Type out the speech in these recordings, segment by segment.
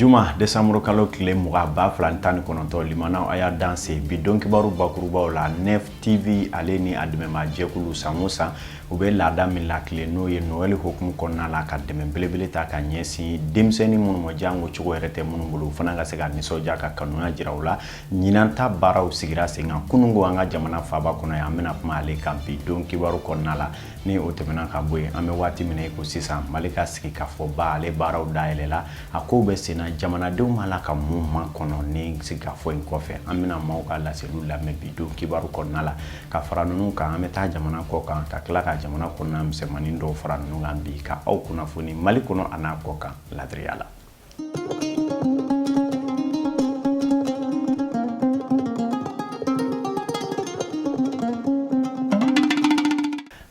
juma desanburu kalo tile mugan ba fila ni tan ni kɔnɔntɔn limanaw a y'a danse bi don kibaru bakurubaw la nef tv ale ni a dɛmɛma jɛkulu san o san u bɛ laada min la tile n'o ye noel hukumu kɔnɔna la ka dɛmɛ belebele ta ka ɲɛsin denmisɛnnin minnu ma janko cogo yɛrɛ tɛ minnu bolo fana ka se ka nisɔndiya ka kanuya jira u la ɲinan ta baaraw sigira sen kan kununko an ka jamana faaba kɔnɔ yan an bɛna kuma ale kan bi don kibaru kɔnɔna la ni o tɛmɛna ka bɔ yen an bɛ waati min ko sisan mali ka sigikafɔba ale baaraw dayɛlɛla a ko bɛ senna jamanadenw b'a la ka mun makɔnɔ nin sigikafɔ in kɔfɛ an bɛna maaw ka laseliw lamɛn bi don kibaru kɔnɔna la ka fara ninnu kan an bɛ taa jamana kɔ kan ka tila ka jamana kɔnɔna misɛnmanin dɔw fara ninnu kan bi ka aw kunnafoni mali kɔnɔ an'a kɔkan laadiriya la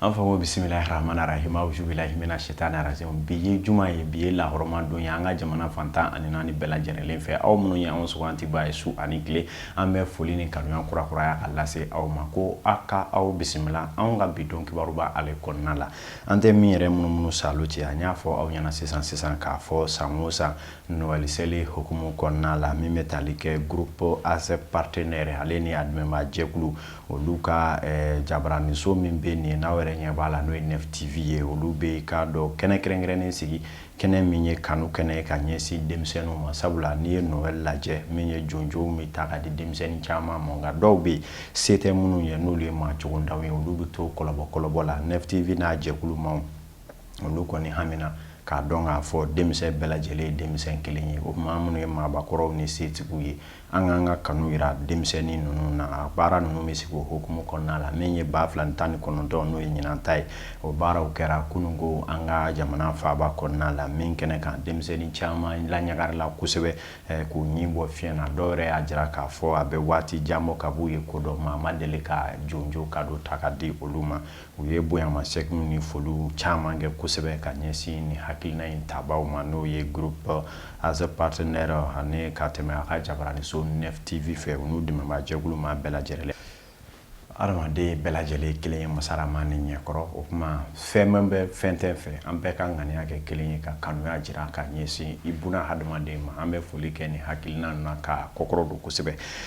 An fa ko bisimilahi rahamani rahimi awuzu bilahi mina sitani rajimi bi ye juma ye bi ye lahɔrɔma don ye an ka jamana fan tan ani naani bɛɛ lajɛlenlen fɛ aw minnu ye anw sugantibaa ye su ani tile an bɛ foli ni kanu kurakuraya k'a lase aw ma ko aw ka aw bisimila an ka bi don kibaruba ale kɔnɔna la an tɛ min yɛrɛ munumunu sa cɛ an y'a fɔ aw ɲɛna sisan sisan k'a fɔ san o san noel seli hukumu kɔnɔna la min bɛ taali kɛ groupe aze partenaire ale ni a dɛmɛbaa jɛkulu olu ka jabaraninso min bɛ nin n'aw yɛrɛ ɲɛ b'a la n'o ye nef tv ye olu bɛ kado kɛnɛ kɛrɛnkɛrɛnnen sigi kɛnɛ min ye kanu kɛnɛ ka ɲɛsin denmisɛnninw ma sabula n'i ye noel lajɛ min ye jonjo bɛ ta ka di denmisɛnnin caman ma nka dɔw bɛ se tɛ minnu ye n'olu ye maa cogontanw ye olu bɛ to kɔlɔbɔkɔlɔbɔ la nef tv n'a jɛkulu maaw olu kɔni hamina k'a dɔn k'a fɔ denmisɛn bɛɛ lajɛlen ye denmisɛn kelen ye o tuma minnu ye maabakɔrɔw ni setigiw ye an k'an ka kanu jira denmisɛnnin ninnu na a baara ninnu bɛ sigi o hukumu kɔnɔna la min ye ba fila tan ni kɔnɔntɔn n'o ye ɲinan ta ye o baaraw kɛra kununko an ka jamana faaba kɔnɔna la min kɛnɛ kan denmisɛnnin caman laɲagarila kosɛbɛ eh, k'u ɲin bɔ fiɲɛ na dɔw yɛrɛ y'a jira k'a fɔ a bɛ waati jan bɔ kab'u ye ko dɔn maa ma deli ka jonjo kado ta ka di olu ma u ye bonyamasegin ni foliw caman kɛ kosɛbɛ ka ɲɛsin nin hakilina in tabaa ma n'o ye groupe aze partenaire ani ka tɛmɛ a ka jabaraniso nef tv fɛ u n'u dɛmɛbaa jɛkulu maa bɛɛ lajɛlen adamaden bɛɛ lajɛlen kelen ye masa rahamani ɲɛkɔrɔ o tuma fɛn b'i fɛ fɛn t'i fɛ an bɛɛ ka ŋaniya kɛ kelen ye ka kanuya jira ka ɲɛsin ibuna hadamaden ma an bɛ foli kɛ nin hakilina na k'a kɔkɔrɔdon kosɛbɛ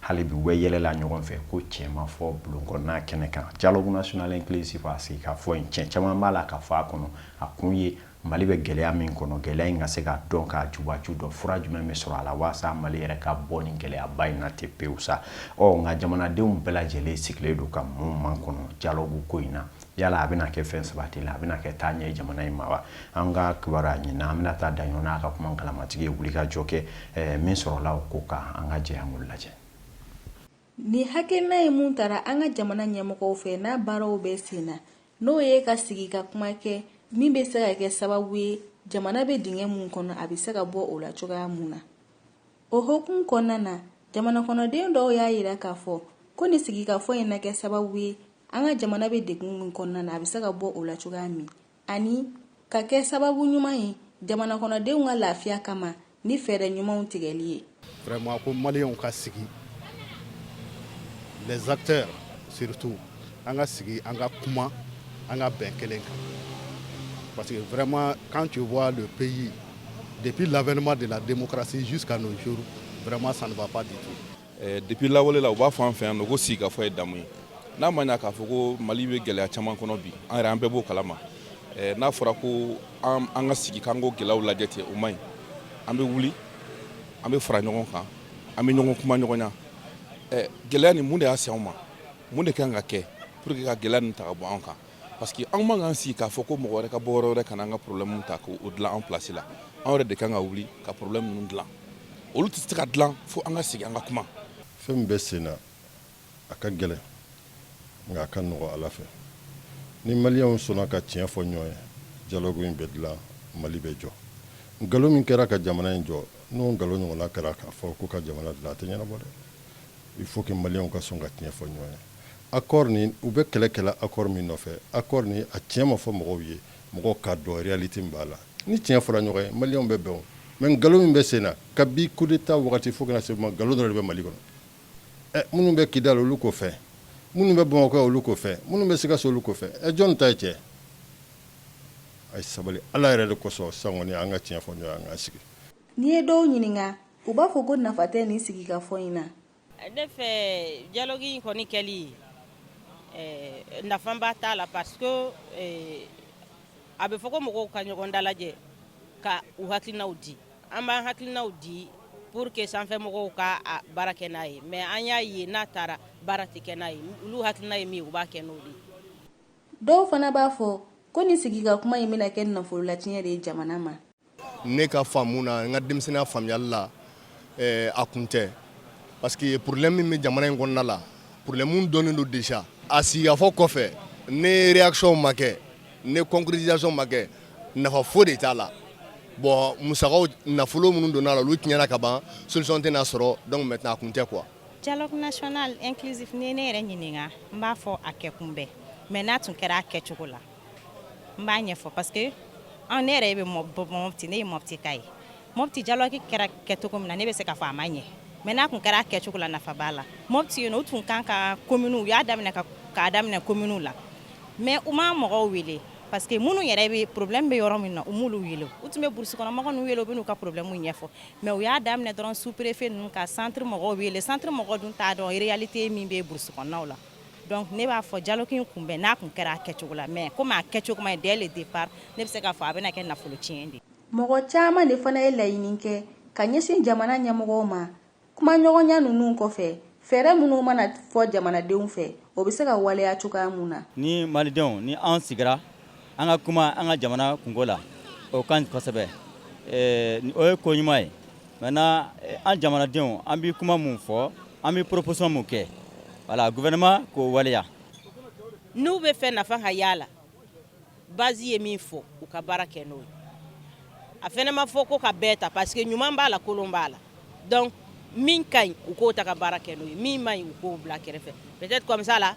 hali bi weele la ɲɔgɔn fɛ ko cɛmafɔ bulonkɔnɔna kɛnɛ kan dialogue national inclusif a sigikafɔ in cɛn caman b'a la ka fɔ a kɔnɔ a kun ye mali bɛ gɛlɛya min kɔnɔ gɛlɛya in ka se ka dɔn k'a jubaju dɔn fura jumɛn bɛ sɔrɔ a la waasa mali yɛrɛ ka bɔ nin gɛlɛyaba in na te pewu sa ɔ nka jamanadenw bɛɛ lajɛlen sigilen don ka mun makɔnɔ dialogue ko in na yala a bɛna kɛ fɛn sabati la a bɛna kɛ taaɲɛ ye jamana in ma wa an ka kibaruyaɲinina aminata daɲɔn n'a ka kuma kalamatigi ye wulikajɔ kɛ eh, min sɔrɔla o ko kan an ka jɛ an k'o lajɛ nin hakilina in mun tara an ka jamana ɲɛmɔgɔw fɛ n'a baaraw bɛ sen na n'o ye ka sigi ka kuma kɛ min bɛ se ka kɛ sababu ye jamana bɛ dingɛ mun kɔnɔ a bɛ se ka bɔ o la cogoya mun na O hukumu kɔnɔna na jamana kɔnɔden dɔw y'a jira k'a fɔ ko nin sigikafɔ in na kɛ sababu ye an ka jamana bɛ degun min kɔnɔna na a bɛ se ka bɔ o la cogoya min ani ka kɛ sababu ɲuman ye jamana kɔnɔdenw ka lafiya kama ni fɛɛrɛ ɲumanw tigɛli ye ko maliyɛnw ka sigi les acteurs surtout an ka sigi an ka kuma an ka bɛn kelen kan parce que vraiment quand tu vois le pays depuis l'avènement de la démocratie jusqu'à nos jours vraiment ça ne va pas du tout eh, depuis lawale la u b'a fɔ an fɛ yan nɔ ko sigikafɔ ye damu ye n'a ma ɲa k'a fɔ ko mali bɛ gɛlɛya caman kɔnɔ bi an yɛrɛ an bɛɛ b'o kalama eh, n'a fɔra ko an ka sigi k'an k'o gɛlɛyaw lajɛ ten o man ɲi an bɛ wuli an bɛ fara ɲɔgɔn kan an bɛ ɲɔgɔn kumaɲɔgɔnya eh, gɛlɛya nin mun de y'a se anw ma Mun de kan ka kɛ pour que ka gɛlɛya nin ta ka bɔ an kan parce que anw man kan sigi k'a fɔ ko mɔgɔ wɛrɛ ka bɔ yɔrɔ wɛrɛ ka na an ka problème ta k'o dilan an place la an yɛrɛ de kan ka wuli ka problème ninnu dilan olu tɛ se ka dilan fo an ka sigi an ka kuma fɛn min bɛ sen na a ka gɛlɛn nka a ka nɔgɔ ala fɛ ni maliyɛnw sɔnna ka tiɲɛ fɔ ɲɔgɔn ye dialogue in bɛ dilan mali bɛ jɔ nkalon min kɛra ka jamana in jɔ n'o nkalon ɲɔgɔnna kɛra k'a fɔ ko ka jamana dilan a tɛ ɲɛnabɔ dɛ Il faut que maliyɛnw ka sɔn ka tiɲɛ fɔ ɲɔgɔn ye. Accord nin, u bɛ kɛlɛ kɛ la accord min nɔfɛ, accord nin, a tiɲɛ ma fɔ mɔgɔw ye, mɔgɔw k'a dɔn realite min b'a la. Ni tiɲɛ fɔla ɲɔgɔn ye, maliyɛnw bɛ bɛn o. Mais nkalon min bɛ sen na, kabi coup d'Etat wagati fo ka na se bi ma, nkalon dɔrɔn de bɛ Mali kɔnɔ. Ɛ minnu bɛ Kidal, olu ko fɛn. Minnu bɛ Bamakɔ yan, olu ko fɛn. Minnu bɛ Sikaso, olu ko fɛn. Ɛ jɔni ta ye tiɲɛ ye? A ye sabali, Ala yɛrɛ de kosɔn, sisan kɔni, an ka tiɲɛ fɔ ɲɔgɔn ye, an k'an sigi. N'i ye dɔw ɲininka, u b'a fɔ ko nafa tɛ nin sigi ka fɔ in na ne fɛ dialogue in kɔni kɛli nafaba t'a la parce que a bɛ fɔ ko mɔgɔw ka ɲɔgɔn dalajɛ ka u hakilinaw di an b'an hakilinaw di pour que sanfɛ mɔgɔw ka baara kɛ n'a ye mais an y'a ye n'a taara baara tɛ kɛ n'a ye olu hakilina ye min ye u b'a kɛ n'o de dɔw fana b'a fɔ ko nin sigi ka kuma in bɛna kɛ nafolo latiɲɛ de ye jamana ma ne ka faamu na n ka denmisɛnninya faamuyali la eh, a kun tɛ parce que problème min bɛ jamana in kɔnɔna la problème dɔnnen don déjà a sigikafɔ kɔfɛ ni réaction ma kɛ ni concrétisation ma kɛ nafa foyi de t'a la bon musakaw nafolo minnu donna a la olu tiɲɛna ka ban solution tɛna sɔrɔ donc maintenant a kun tɛ quoi dialogue national inclusif n'i ye ne yɛrɛ ɲininka n b'a fɔ a kɛkun bɛ mais n'a tun kɛra a kɛcogo la n b'a ɲɛfɔ parce que an ne yɛrɛ bɛ mɔti ne ye mɔtika ye mɔti dialogue kɛra kɛcogo min na ne bɛ se k'a fɔ a ma ɲɛ mais n'a tun kɛra a kɛcogo la nafa b'a la mɔti yen u tun kan ka commune u y'a daminɛ k'a daminɛ commune la mais u ma mɔgɔw wele parce que minnu yɛrɛ bɛ problème bɛ yɔrɔ min na u m'olu wele u tun bɛ burusikɔnɔmɔgɔ ninnu wele u bɛ n'u ka problème ɲɛfɔ mais u y'a daminɛ dɔrɔn sous-préfet ninnu ka centre mɔgɔw wele centre mɔgɔw dun t'a dɔn réalité min bɛ burusikɔnɔnaw la Donc ne b'a fɔ dialogue in kun bɛ n'a kun kɛra a kɛcogo la mais comme a kɛcogo man ɲi dès le départ ne bɛ se k'a fɔ a bɛna kɛ nafolo tiɲɛ de ye. Mɔgɔ caman de fana ye laɲini kɛ ka ɲɛsin jamana ɲɛmɔgɔw ma kumaɲɔgɔnya ninnu kɔfɛ, fɛɛrɛ minnu mana fɔ jamanadenw fɛ, o bɛ se ka waleya cogoya min na. Ni Malidenw ni an sigira an ka kuma an ka jamana kunko la o ka ɲi kosɛbɛ o ye ko ɲuman ye maintenant an jamanadenw an bɛ kuma min fɔ an bɛ proposition min kɛ voilà gouvernement k'o waleya n'u b'a fɛ nafa ka y'a la base ye min fɔ u ka baara kɛ n'o ye a fana ma fɔ k'u k'a bɛɛ ta parce que ɲuman b'a la kolon b'a la donc min ka ɲi u k'o ta ka baara kɛ n'o ye min man ɲi u k'o bila kɛrɛfɛ peut-être comme ça la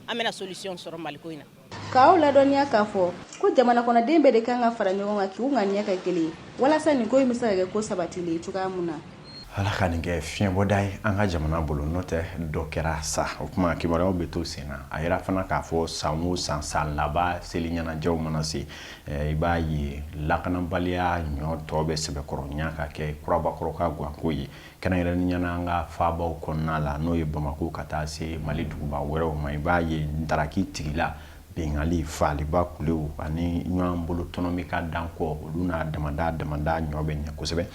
an bɛna solution sɔrɔ Mali ko in na k'aw ladɔnniya k'a fɔ ko jamana kɔnɔden bɛɛ de kan ka fara ɲɔgɔn kan k'u ŋaniya kɛ kelen ye walasa nin ko in bɛ se ka kɛ ko sabatilen ye cogoya min na ala ka nin kɛ fiɲɛbɔda ye an ka jamana bolo n'o tɛ dɔ kɛra sa o tuma kibaruyaw bɛ to sen na a yira fana k'a fɔ san o san san laban seli ɲɛnajɛw mana se eh, i b'a ye lakanabaliya ɲɔ tɔ bɛ sɛbɛkɔrɔnya ka kɛ kurabakɔrɔ ka ganko ye Kɛrɛnkɛrɛnnenya na an ka faabaw kɔnɔna la, n'o ye Bamako ka taa se Mali duguba wɛrɛw ma, i b'a ye ntaraki tigila, binkanli, faaliba kulew ani ɲɔgɔn bolo tɔnɔmi ka dan kɔ, olu n'a damada damada ɲɔ bɛ ɲɛ kosɛbɛ.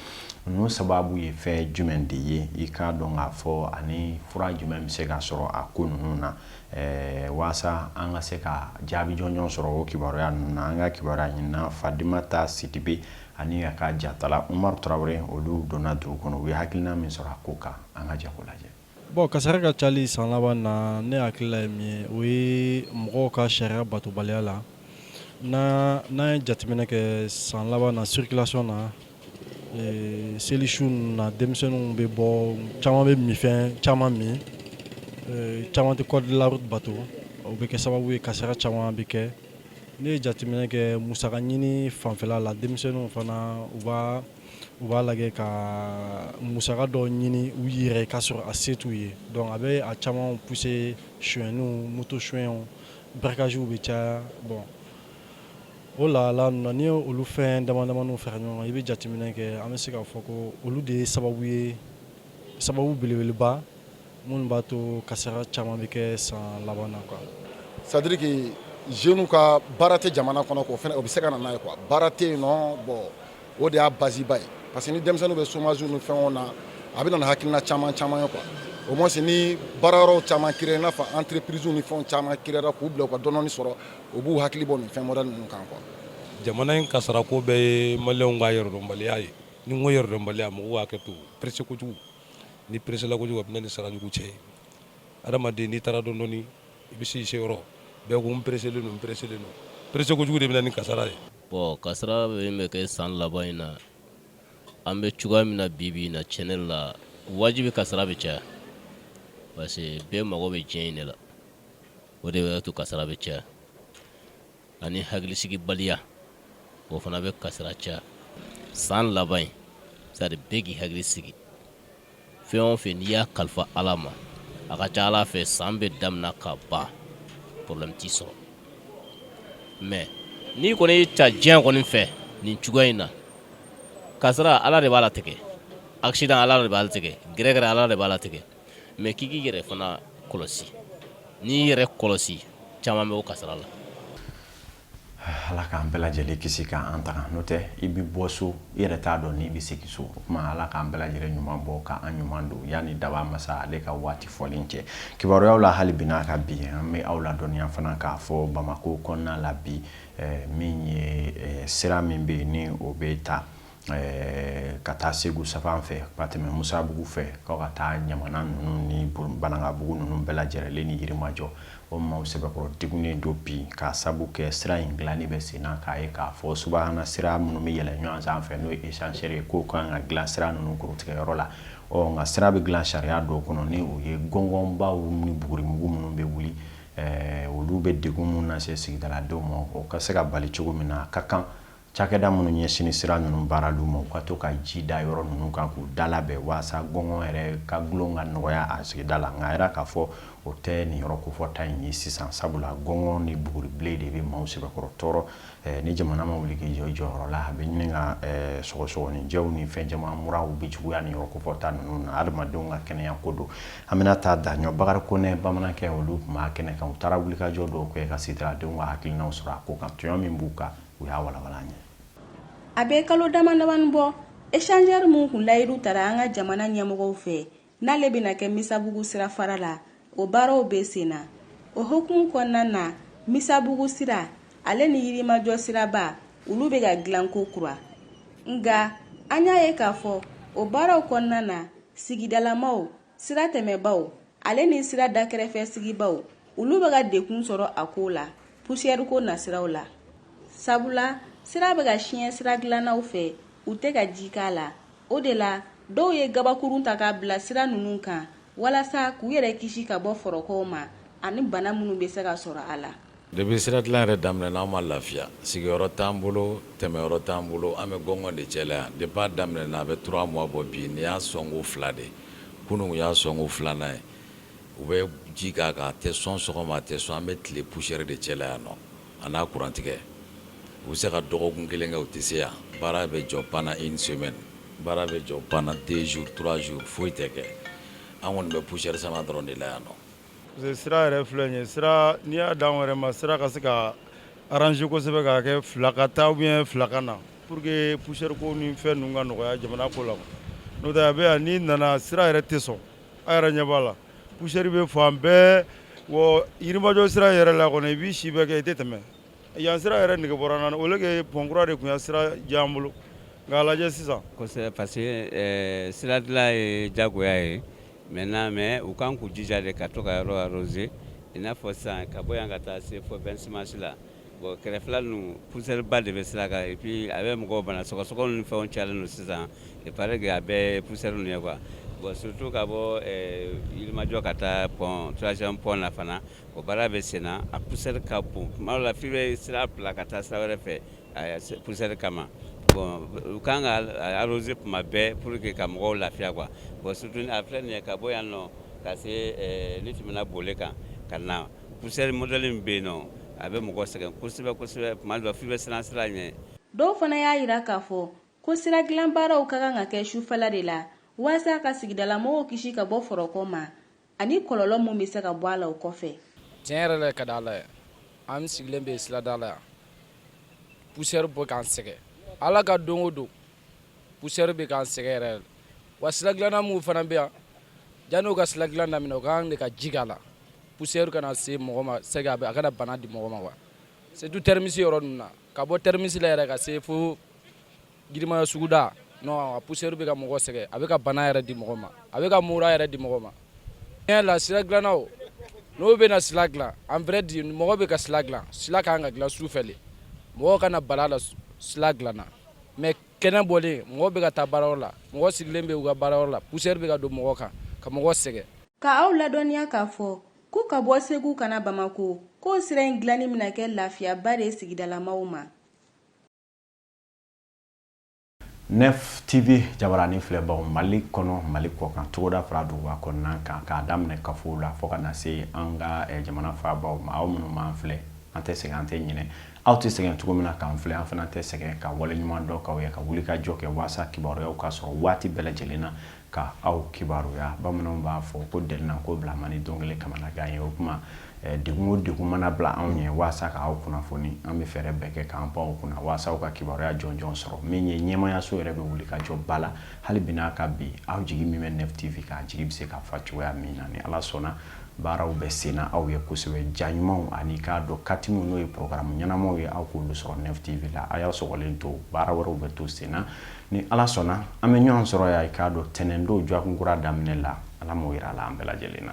Ninnu sababu ye fɛn jumɛn de ye? I k'a dɔn k'a fɔ ani fura jumɛn bɛ se ka sɔrɔ a ko ninnu na? Ɛɛ waasa an ka se ka jaabi jɔnjɔn sɔrɔ o kibaruya ninnu na, an ka kibaruya ɲininna Fadimata Sidibe ani a ka jatala Umaru Tarawele, olu donna dugu kɔnɔ. U ye hakilina min sɔrɔ a ko kan, an ka jɛ k'o lajɛ. Bon kasara ka cayali san laban in na, ne hakilila ye min ye, o ye mɔgɔw ka sariya batobaliya la. N'an n'an ye jateminɛ kɛ san laban na circulation na, ee seli su ninnu na, denmisɛnninw bɛ bɔ, caman bɛ minfɛn caman min, caman tɛ code de la route bato, o bɛ kɛ sababu ye kasara caman bɛ kɛ. Ne ye jateminɛ kɛ musaka ɲini fanfɛla la denmisɛnninw fana u u b'a lajɛ ka musaka dɔ ɲini u yɛrɛ k'a sɔrɔ a se t'u ye donc a bɛ a caman pousser sonyɛnniw moto sonyɛw braquagew bɛ caya bon o la la n'i ye olu fɛn damadamaninw fara ɲɔgɔn kan i bɛ jateminɛ kɛ an bɛ se k'a fɔ ko olu de ye sababu ye sababu belebeleba minnu b'a to kasara caman bɛ kɛ san laban na quoi c'est à dire que jeunes ka baara tɛ jamana kɔnɔ k'o fana o bɛ se ka na n'a ye quoi baara tɛ yen nɔ bon o de y'a base ba ye parce que ni denmisɛnninw bɛ chômage ni fɛnw na a bɛ na ni hakilina caman caman ye quoi au moins ni baarayɔrɔw caman créer i n'a fɔ entreprise ni fɛnw caman créer k'u bila u ka dɔɔnin sɔrɔ u b'u hakili bɔ nin fɛn modèle ninnu kan quoi jamana in kasarako bɛɛ ye maliyɛnw ka yɛrɛdɔnbaliya ye ni n ko yɛrɛdɔnbaliya mɔgɔw ka hakɛ to pressé kojugu n'i peresela kojugu a bɛ na ni sarajugu cɛ ye adamaden n'i taara dɔɔnin dɔɔnin i bɛ se i seyɔrɔ bɛɛ ko n pereselen don n pereselen don perese kojugu de bɛ na ni kasara ye bon kasara min bɛ kɛ san laban in na an bɛ cogoya min na bi bi in na cɛn ne la wajibi kasara bɛ caya parce que bɛɛ mago bɛ diɲɛ in de la o de b'a to kasara bɛ caya ani hakilisigibaliya o fana bɛ kasara caya san laban in c'est à dire bɛɛ k'i hakili sigi fɛn o fɛ n'i y'a kalifa ala ma a ka ca ala fɛ san bɛ daminɛ ka ban porobilɛmu t'i sɔrɔ mɛ n'i kɔni y'i ta diɲɛ kɔni fɛ nin cogoya in na kasara ala de b'a latigɛ asidan ala de b'a latigɛ gɛrɛgɛrɛ ala de b'a latigɛ mɛ k'i k'i yɛrɛ fana kɔlɔsi n'i y'i yɛrɛ kɔlɔsi caman bɛ bɔ kasara la ala k'an bɛɛ lajɛlen kisi k'an tanga n'o tɛ i bɛ bɔ so i yɛrɛ t'a dɔn n'i bɛ segin so o tuma ala k'an bɛɛ lajɛlen ɲuman bɔ k'an ɲuman don yanni dabaa masa ale ka waati fɔlen cɛ kibaruyaw la hali bi n'a ka bi an bɛ aw ladɔnniya fana k'a fɔ bamako kɔnɔna la bi eh, min ye eh, sira min bɛ yen ni o bɛ ta ka taa segu sira fan fɛ ka tɛmɛ musabugu fɛ ka ka taa ɲamana ninnu ni banankabugu ninnu bɛɛ lajɛlen ni yirimajɔ o maaw sɛbɛkɔrɔ degunnen don bi ka sabu kɛ sira in dilanni bɛ sen na k'a ye k'a fɔ suana sira minnu bɛ yɛlɛ ɲɔgɔn sanfɛ n'o ye échangeur ye k'o ka kan ka dilan sira ninnu kɔrɔtigɛyɔrɔ la ɔ nka sira bɛ dilan sariya dɔw kɔnɔ ni o ye gɔngɔnbaw ni bugurimugu minnu bɛ wuli olu bɛ degun minnu lase sigidaladenw ma o ka se ka bali cogo min na ka kan Cakɛda minnu ɲɛsin sira ninnu baarali ma u ka to ka ji da yɔrɔ ninnu kan k'u dalabɛn waasa gɔngɔn yɛrɛ ka gulon ka nɔgɔya a sigida la nka yɛrɛ k'a fɔ o tɛ nin yɔrɔ kofɔta in ye sisan sabula gɔngɔn ni buguribilen de bɛ maaw sɛbɛkɔrɔ tɔɔrɔ eh, ni jamana ma wuli k'i jɔ i jɔyɔrɔ la a bɛ ɲini ka eh, sɔgɔsɔgɔninjɛw ni fɛn caman muraw bɛ juguya nin yɔrɔ kofɔta ninnu na adamadenw ka kɛnɛya ko don an bɛna taa daɲɔ bakari konɛ bamanankɛ olu tun b'a kɛnɛ kan u taara wulikajɔ dɔw kɛ ka sigidaladenw ka hakilinaw sɔrɔ a ko kan tɔɲɔ min b'u kan u y'a walawala an ye a bɛ kalo damadamanin bɔ échangeur min tun layidu tara an ka jamana ɲɛmɔgɔw fɛ n'ale bɛna kɛ misabugu sira fara la o baaraw bɛ sen na o hukumu kɔnɔna na misabugu sira ale ni yirimajɔ siraba olu bɛ ka dilan kokura nka an y'a ye k'a fɔ o baaraw kɔnɔna na sigidalamaw sira tɛmɛbaw ale ni sira dakɛrɛfɛ sigibaw olu bɛ ka degun sɔrɔ a ko la pusiyɛri ko nasiraw la sabula sira bɛ ka siɲɛ sira dilannaw fɛ u tɛ ka ji k'a la o de la dɔw ye gabakurun ta k'a bila sira ninnu kan walasa k'u yɛrɛ kisi ka bɔ fɔrɔkɔw ma ani bana minnu bɛ se ka sɔrɔ a la Depuis sira dilan yɛrɛ daminɛna an ma lafiya sigiyɔrɔ t'an bolo tɛmɛyɔrɔ t'an bolo an bɛ gɔngɔn de cɛla yan depuis a daminɛna a bɛ trois mois bɔ bi nin y'a sɔnko fila de kunun y'a sɔnko filanan ye u bɛ ji k'a kan a tɛ sɔn sɔgɔma a tɛ sɔn an bɛ tile poussière de cɛla yan nɔ an n'a kurantigɛ u bɛ se ka dɔgɔkun kelen kɛ u tɛ se yan baara bɛ jɔ pendant une semaine baara bɛ jɔ pendant deux jours trois jours foyi tɛ kɛ an kɔni bɛ poussière sama dɔrɔn de la yan nɔ sira yɛrɛ filɛ nin ye sira n'i y'a di anw yɛrɛ ma sira ka se ka arranger kosɛbɛ k'a kɛ fila ka taa ou fila ka na pour que poussière ko ni fɛn ninnu ka nɔgɔya jamana ko la n'o tɛ a bɛ yan n'i nana sira yɛrɛ tɛ sɔn a yɛrɛ ɲɛ b'a la poussière bɛ fan bɛɛ yirimajɔ sira yɛrɛ la kɔni i b'i si bɛɛ kɛ i tɛ tɛmɛ yan sira yɛrɛ nege bɔra n na au lieu que pont kura de tun ye sira diya an bolo nka a lajɛ sisan parce que sira dilan ye jagoya ye Maintenant mais u kan k'u jija de ka to ka yɔrɔ arroser i n'a fɔ sisan ka bɔ yan ka taa se fɔ vingt-six mars la bon kɛrɛfɛla ninnu poussière ba de bɛ sira kan et puis a bɛ mɔgɔ bana sɔgɔsɔgɔ ni fɛnw cayalen don sisan il paraît que a bɛɛ poussière ninnu ye quoi bon surtout ka bɔ yirimajɔ ka taa pont troisième pont na fana o baara bɛ sen na a poussière ka bon tuma dɔ la f'i bɛ sira bila ka taa sira wɛrɛ fɛ poussière kama bon u kan ka arroser tuma bɛɛ pour que ka mɔgɔw lafiya quoi bon surtout a filɛ nin ye ka bɔ yan nɔ ka se n'i tɛmɛna bole kan ka na poussière modèle min bɛ yen nɔ a bɛ mɔgɔ sɛgɛn kosɛbɛ kosɛbɛ tuma dɔ f'i bɛ siran sira ɲɛ dɔw fana y'a jira k'a fɔ ko sira dilan baaraw ka kan ka kɛ sufɛla de la waasa ka sigidalamɔgɔw kisi ka bɔ fɔrɔkɔ ma Ani kɔlɔlɔ min bɛ se ka bɔ a la o kɔfɛ. Tiɲɛ yɛrɛ la ka di Ala ye, an sigilen bɛ sirada la yan, poussière bɛ k'an sɛgɛn Ala ka don o don, poussière bɛ k'an sɛgɛn yɛrɛ yɛrɛ de, wa siradilanna minnu fana bɛ yan, janni u ka siradilan daminɛ, u ka kan de ka ji k'a la, poussière kana se mɔgɔ ma c'est que a kana bana di mɔgɔ ma quoi, surtout terminus yɔrɔ ninnu na, ka bɔ terminus la yɛrɛ ka se fo yirimajo suguda non a poussière bɛ ka mɔgɔ sɛgɛn a bɛ ka bana yɛrɛ di mɔgɔ ma a bɛ ka mura yɛrɛ di mɔgɔ ma tiɲɛ la sira dilannaw n'o bɛna sira dilan en vrai dire mɔgɔ bɛ ka sira dilan sira ka kan ka dilan su fɛ de mɔgɔ kana bala la sira dilanna mais kɛnɛ bɔlen mɔgɔ bɛ ka taa baarayɔrɔ la mɔgɔ sigilen bɛ u ka baarayɔrɔ la poussière bɛ ka don mɔgɔ kan ka mɔgɔ sɛgɛn ka aw ladɔnniya k'a fɔ ko ka bɔ segu ka na bamako ko sira in dilanni bɛna kɛ lafiyaba de ye sigidalamaw ma nef tv jabaranin filɛbaw mali kɔnɔ mali kɔkan togoda fara duguba kɔnɔna kan k'a daminɛ kafow la fɔɔ ka na se an ka eh, jamana faabaw ma aw minnu b'an filɛ an tɛ sɛgɛn an tɛ ɲinɛ aw tɛ sɛgɛn cogo min na k'an filɛ an fana tɛ sɛgɛn ka wale ɲuman dɔn k'aw ye ka wuli ka jɔ kɛ waasa kibaruyaw ka sɔrɔ waati bɛɛ lajɛlen na ka aw kibaruya bamananw b'a fɔ ko delinako bila man di don kelen kamanagan ye o kuma degun o degun mana bila anw ɲɛ waasa ka aw kunnafoni an bɛ fɛɛrɛ bɛɛ kɛ k'an pan o kunna waasa aw ka kibaruya jɔnjɔn sɔrɔ min ye ɲɛmaayaso yɛrɛ bɛ wuli ka jɔ ba la hali bi n'a ka bi aw jigi min bɛ nef tv kan jigi bɛ se ka fa cogoya min na ni ala sɔnna baaraw bɛ sen na aw ye kosɛbɛ ja ɲumanw ani k'a dɔn katimu n'o ye programme ɲɛnamaw ye aw k'olu sɔrɔ nef tv la a y'aw sɔgɔlen to baara wɛrɛw bɛ to sen na ni ala sɔnna an bɛ ɲɔgɔn sɔrɔ yan i k'a dɔn tɛnɛndon jɔkun kura daminɛ la ala m'o jira la an bɛɛ lajɛlen na